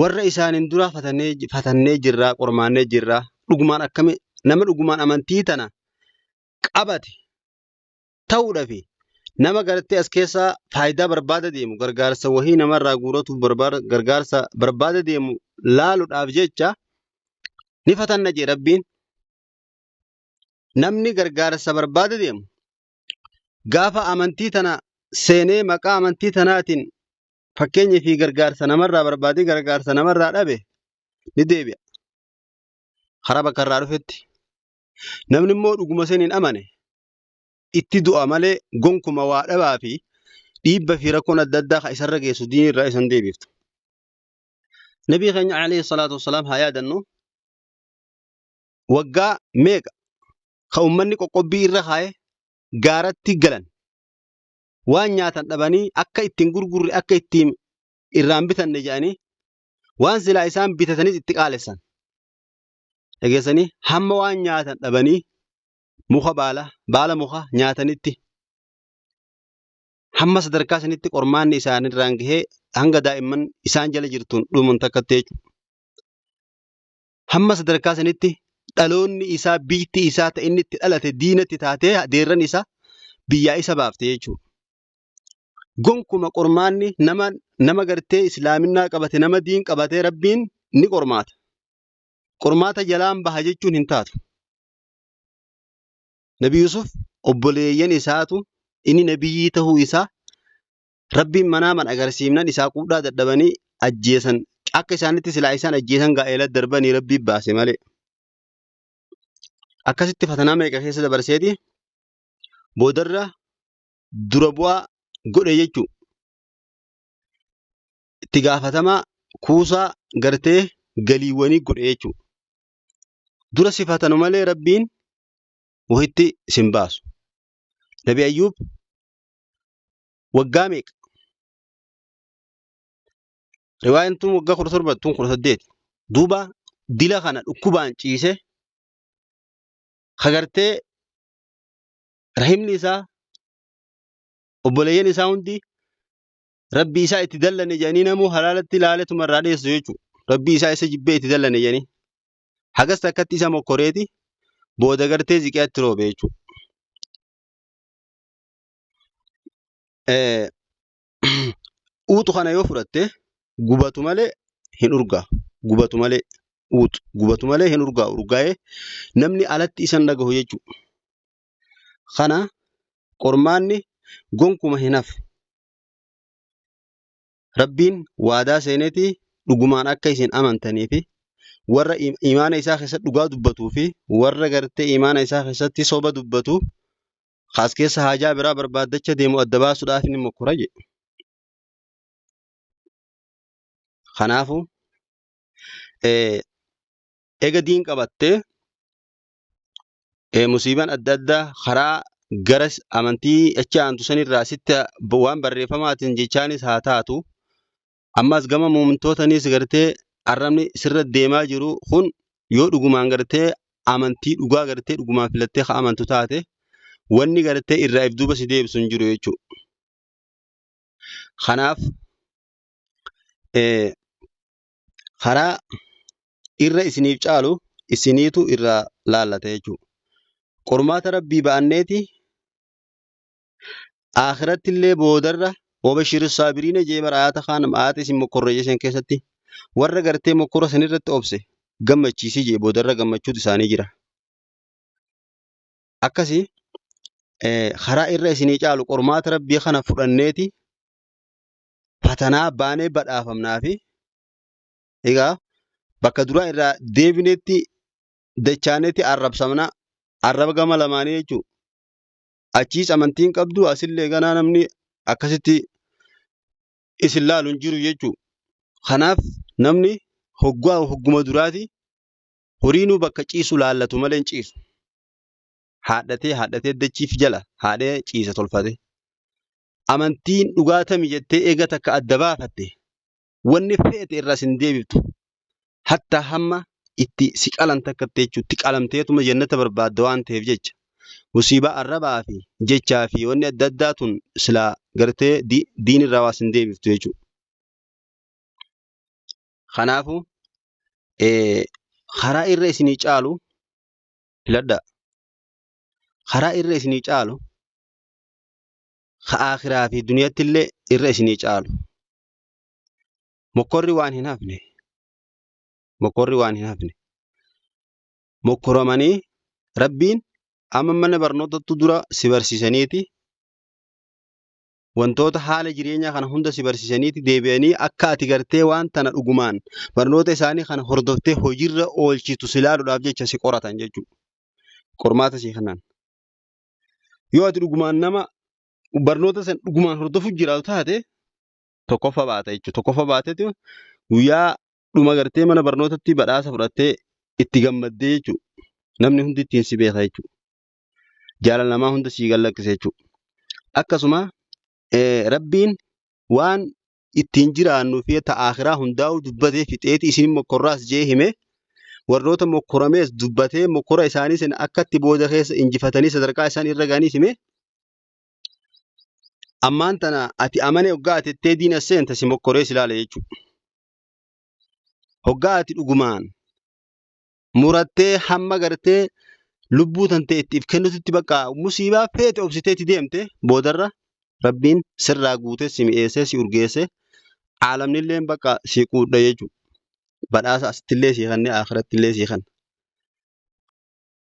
warra isaanin duraa fatannee, fatannee jirraa, qormaannee jirraa. Dhugumaan akkami nama dhugumaan amantii tana qabate ta'uudha fi nama garattee as keessaa faayidaa barbaada deemu gargaarsa wahii namarraa guuratuuf barbaada gargaarsa barbaada deemu laaluudhaaf jecha ni fatanna jee rabbiin. Namni gargaarsa barbaada deemu gaafa amantii tana seenee maqaa amantii tanaatiin fakkeenyi fi gargaarsa namarraa barbaadee gargaarsa namarraa dhabe ni deebi'a. Karaa bakka irraa dhufetti. Namni immoo dhuguma saniin amane itti du'a malee gonkuma waa dhabaa fi dhiibba fi rakkoon adda addaa kan isarra geessu diinii irraa isan deebiftu. Nabii keenya alayhi salaatu wassalaam haa yaadannu. waggaa meeqa kan ummanni qoqqobbii irra kaa'e gaaratti galan waan nyaatan dhabanii akka ittiin gurgurre akka ittiin irraan bitanne jedhanii waan silaa isaan bitatanis itti qaalessan. Dhageessanii hamma waan nyaatan dhabanii muka baala baala muka nyaatanitti hamma sadarkaa sanitti qormaanni isaanirraan gahee hanga daa'imman isaan jala jirtuun dhuman takkatti jechuudha. hamma sadarkaa sanitti dhaloonni isaa biyyatti isaa ta'e inni itti dhalate diinatti taatee deerran isaa biyyaa isa baafte jechuudha. Gonkuma qormaanni nama nama gartee islaaminaa qabate nama diin qabatee rabbiin ni qormaata. Qormaata jalaan baha jechuun hin taatu. Nabi Yusuf obboleeyyan isaatu inni nabiyyii ta'uu isaa Rabbiin manaaman agarsiifnan isaa quudhaa dadhabanii ajjeesan. Akka isaanitti silaa isaan ajjeesan gaa'ela darbanii Rabbii baase malee. Akkasitti fatanaa meeqa keessa dabarseeti boodarra dura bu'aa godhe jechuu itti gaafatamaa kuusaa gartee galiiwwanii godhe jechuu dura si fatanu malee rabbiin wahitti sin baasu nabi ayyuub waggaa meeqa? Riwaayaan tun waggaa kudha torba tun kudha saddeet. Duuba dila kana dhukkubaan ciise hagartee rahimni isaa obboleeyyan isaa hundi rabbi isaa itti dallane jedhanii namuu halaalatti ilaaletuma irraa dheessu jechuudha. Rabbi isaa isa jibbee itti dallane jedhanii. Hagas takkatti isa mokkoreeti booda gartee ziqiyaatti roobe jechuudha. Eh, uuxu kana yoo fudhatte gubatu malee hin urgaa gubatu malee uuxu gubatu malee hin urgaa urgaa'ee namni alatti isan dhagahu jechuu kana qormaanni gonkuma hin hafu rabbiin waadaa seeneeti dhugumaan akka isin amantanii fi warra im- imaana isaa keessatti dhugaa dubbatuu fi warra gartee imaana isaa keessatti soba dubbatu Kaas keessa haajaa biraa barbaaddacha deemu adda baasuudhaaf ni mokkora jedhe. Kanaafuu eh, ega diin qabattee eh, musiibaan adda addaa karaa gara s- amantii achi aantu sanirraa sitti b- waan barreeffamaatiin jechaanis haa taatu Ammas gama muumintootanis gartee arrabni sirra deemaa jiru kun yoo dhugumaan gartee amantii dhugaa gartee dhugumaan filattee ka amantu taate wanni gartee irraa if duuba si deebisu hin jiru jechuudha. Kanaaf eh, karaa irra isiniif caalu isiniitu irraa laallata jechuudha. Qormaata rabbii ba'anneeti Aakhiratti illee boodarra wabashiri saabiriina jee bara ayata kaan ayata isin mokkorreeyye san keessatti warra gartee mokkora san irratti obse gammachiisi jee boodarra gammachuutu isaanii jira. Akkasi eh, karaa irra isinii caalu qormaata rabbii kana fudhanneeti fatanaa baanee badhaafamnaa fi egaa bakka duraa irraa deebineetti dachaaneetti arrabsamna arraba gama lamaanii jechuudha. achiis amantii hin qabdu asillee ganaa namni akkasitti isin laalu hin jiru jechuudha. Kanaaf namni hoggaa hogguma duraati horiinuu bakka ciisu laallatu malee hin ciisu. Haadhatee haadhatee dachiif jala haadhee ciisa tolfate. Amantiin dhugaa tami jettee eega takka adda baafatte wanni feete irraa sin deebiftu hatta hamma itti si qalan takka jechuun itti qalamteetuma jannata barbaadda waan ta'eef jecha musiibaa arrabaa fi jechaa fi wanni adda addaa tun silaa gartee diin irraa waa sin deebiftu jechuudha. Kanaafuu karaa irra isinii caalu filadhaa. Karaa irra isinii caalu ka akhiraa fi duniyatti illee irra isinii caalu. Mokkorri waan hin hafne. Mokkorri waan hin hafne. Mokkoramanii rabbiin amma mana barnootattu dura si barsiisaniiti wantoota haala jireenyaa kana hunda si barsiisaniiti deebi'anii akka ati gartee waan tana dhugumaan barnoota isaanii kana hordoftee hojiirra oolchitu si ilaaluudhaaf jecha si qoratan jechuudha. Qormaata si kanan. Yoo ati dhugumaan nama barnoota san dhugumaan hordofuuf jiraatu taate tokkoffa baata jechuudha. Tokkoffa baateeti guyyaa dhuma gartee mana barnootatti badhaasa fudhattee itti gammaddee jechuudha. Namni hundi ittiin si beeka jechuudha. Jaalala namaa hunda sii gallakkisa jechuudha. Akkasuma eh, rabbiin waan ittiin jiraannu fi ta akhiraa hundaa'u dubbatee fixeeti isin mokkorraas jee hime warroota mokkoramees dubbatee mokkora isaanii sana akkatti booda keessa injifatanii sadarkaa isaan irra ga'aniis hime ammaan tana ati amanee hoggaa ati ittee diina seenta si mokkoree si laala jechuudha. Hoggaa ati dhugumaan murattee hamma gartee lubbuu tantee ittiif kennututti bakka musiibaa feete obsiteeti deemte boodarra rabbiin sirraa guutee si mi'eessee si urgeessee aalamnilleen bakka si quudha jechuudha. Badhaasa asittillee si kennee akhirattillee si kenna.